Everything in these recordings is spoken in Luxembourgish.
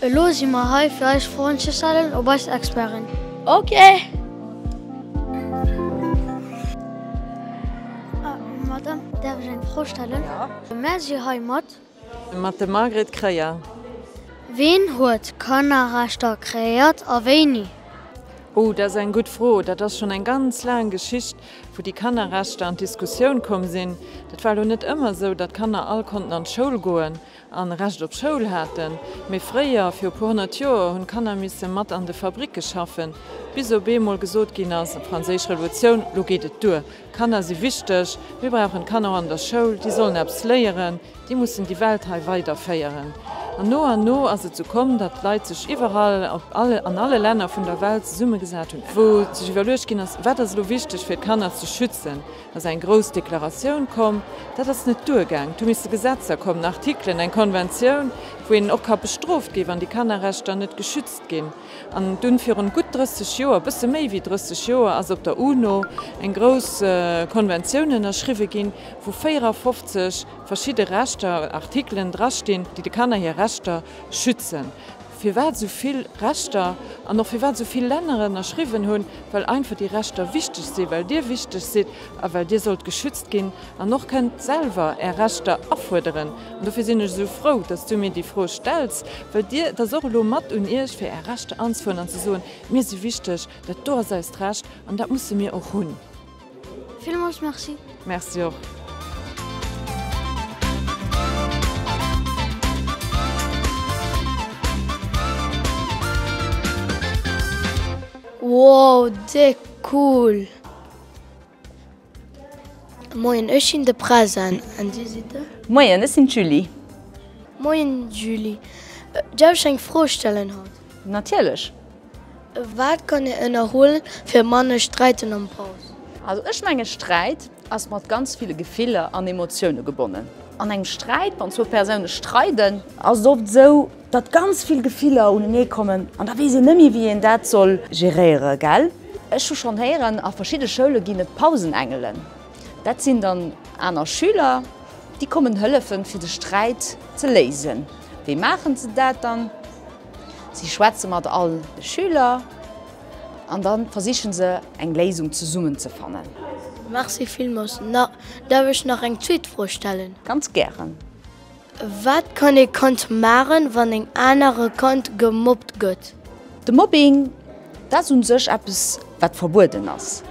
Elo si mer hei fir eis Froen ze stellen op eis Experten. Ok! Madame, däerf ech eng Fro stellen? Jo. Mär si hei mat. Mat dem Margret Kreyer. Ween huet Kannerrechter kreéiert a wéini? Oh, dat ass eng gutt Fro. Dat ass schonn eng ganz laang Geschicht, wou déi Kannerrechter an d'Diskussioun komm sinn. Dat war elo net ëmmer esou, datt d'Kanner all konnten an d'Schoul goen. a Recht op Schoul haten, mee fréier, viru puer honnert Joer, hunn d'Kanner misse mat an de Fabricke schaffen, bis op eemol gesot ginn ass, Franséisch Revolutioun, elo geet et duer, d'Kanner si wichteg, mir brauchen d'Kanner och an der Schoul, déi sollen eppes léieren, déi mussen déi Welt hei weiderféieren. An no an no ass et sou komm, datt d'Leit sech iwwerall, an alle Länner vun der Welt zesummegesat hunn, wou sech iwwerluecht ginn ass, wat ass elo wichteg fir d'Kanner ze schützen, ass eng grouss Deklaratioun komm, dat ass net duergaang, et hu misse Gesetzer kommen, Artikelen, eng Konventioun, wou een och ka bestrooft gi wann déi Kannerrechter net geschützt ginn. An dunn virun gutt 30 Joer, bësse méi wéi 30 Joer, ass op der UNO eng grouss Konventioun ënnerschriwwe ginn, wou 54 verschidde Rechter, Artikelen drastinn, déi de Kanner hir Rechter schützen. firwat esou vill Rechter an och firwat esou vill Länner ënnerschriwwen hunn, well einfach déi Rechter wichteg sinn, well Dir wichteg sidd a well Dir sollt geschützt ginn an och kënnt selwer Är Rechter afuerderen. An dofir sinn ech esou frou, datt s Du mir déi Fro stells, well Dir, et ass och elo mat un Iech, fir Är Rechter anzefuerdern an ze soen, Mir si wichteg, dat do ass eist Recht an dat musse mir och hunn. Villmols merci. Merci och. Wow de cool. Moien ech sinn de Present an dir sidd de? Moien ech sinn d'Julie. Moien Julie, därf ech eng Fro stellen haut? Natierlech. Wat kann een ënnerhuelen fir manner sträiten an Paus? Also ech mengen Sträit ass mat ganz ville Gefiller an Emotioune gebonnen. An engem Sträit, wann zwou Persoune streiden, ass et oft esou datt ganz vill Gefiller unenee kommen an da weess een net méi wéi een dat soll geréieren, gell? Ech hu schonn héieren, a verschidde Schoule ginn et Pausenengelen. Dat sinn dann aner Schüler, déi kommen hëllefen fir de Sträit ze léisen. Wéi maachen se dat dann? Si schwätze mat all de Schüler an da versiche se eng Léisung zesummen ze fannen. Merci villmols. Darf ech nach eng zweet Fro stellen? Ganz gären. Wat kann ee Kand maachen, wann en anere Kand gemobbt gëtt? De Mobbing, dat ass u sech eppes, wat verbueden ass.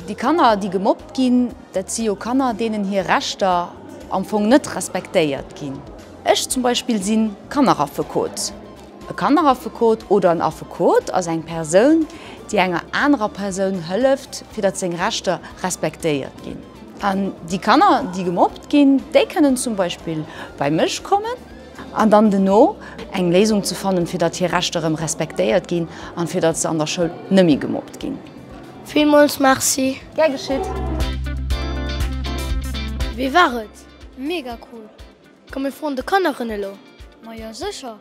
Déi Kanner, déi gemobbt ginn, dat si jo Kanner, deenen hir Rechter am Fong net respektéiert ginn. Ech zum Beispill si Kanneraffekot. E Kanneraffekot oder en Affekot ass eng Persoun, déi enger anerer Persoun hëlleft, fir datt seng Rechter respektéiert ginn. An déi Kanner, déi gemobbt ginn, déi kënnen zum Beispill bei mech kommen an dann dono eng Léisung ze fannen, fir datt hir Rechter erëm respektéiert ginn an fir datt se an der Schoul net méi gemobbt ginn. Villmools Merci! Gär geschitt! Wéi war et? Mega cool! Komm mir froen de Kanneren elo. Ma jo secher.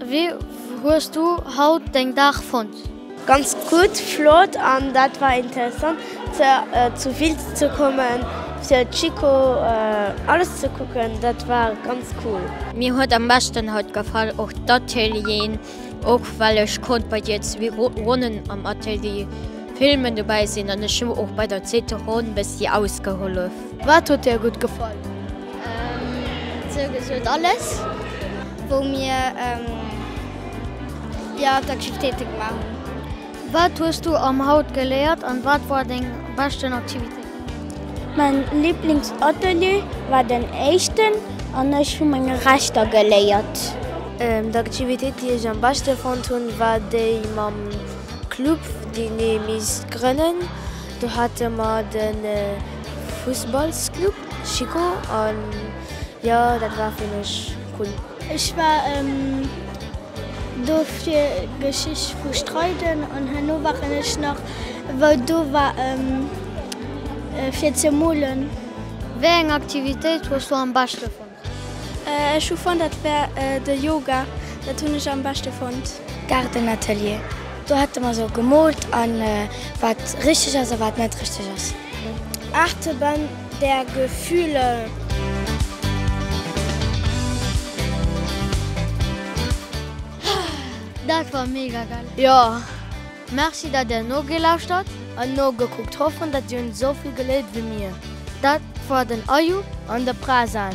Wéi hues du haut deng Dag fonnt? Ganz gudd, flott an dat war interessant zu Wiltz ze kommen fir Chico alles ze kucken, dat war ganz cool. Mir huet am beschten haut gefall och d'Atelieren Och well ech konnt bei dir zwee Ronnen am Atelier filmen dobäi sinn an ech hu och bei der zweeter Ronn bëssi ausgehollef. Wat huet dir gutt gefall? Sou gesoot alles wou mir jo d'Aktivitéiten gemaach hun. Wat hues du am haut geléiert an wat war deng beschten Aktivitéit? Mäin Liblingsatelier war den éischten an ech hu meng Rechter geléiert. D'Aktivitéit déi ech am beschte fonnt hunn war déi mam Club deen ee misst grënnen. Do hate mer de Fussballsclub Schiko an jo dat war fir mech cool. Ech war. Dofir Geschicht vu Streiden an herno waren ech nach wou do war fir ze molen. Wéi eng Aktivitéit hues du am beschte fonnt? Ech hu fonnt dat war de Yoga, dat hunn ech am beschte fonnt. Gaardenatelier, do hate mer sou gemoolt an wat richteg ass a wat net richteg ass. Aartebänn. Der Gefühle. Dat war mega geil! Jo, merci dat der nogelauschtert an nogekuckt, hoffen dat dir hun esou vill geléiert wéi mir. Dat war den Ayoub an de Prazan.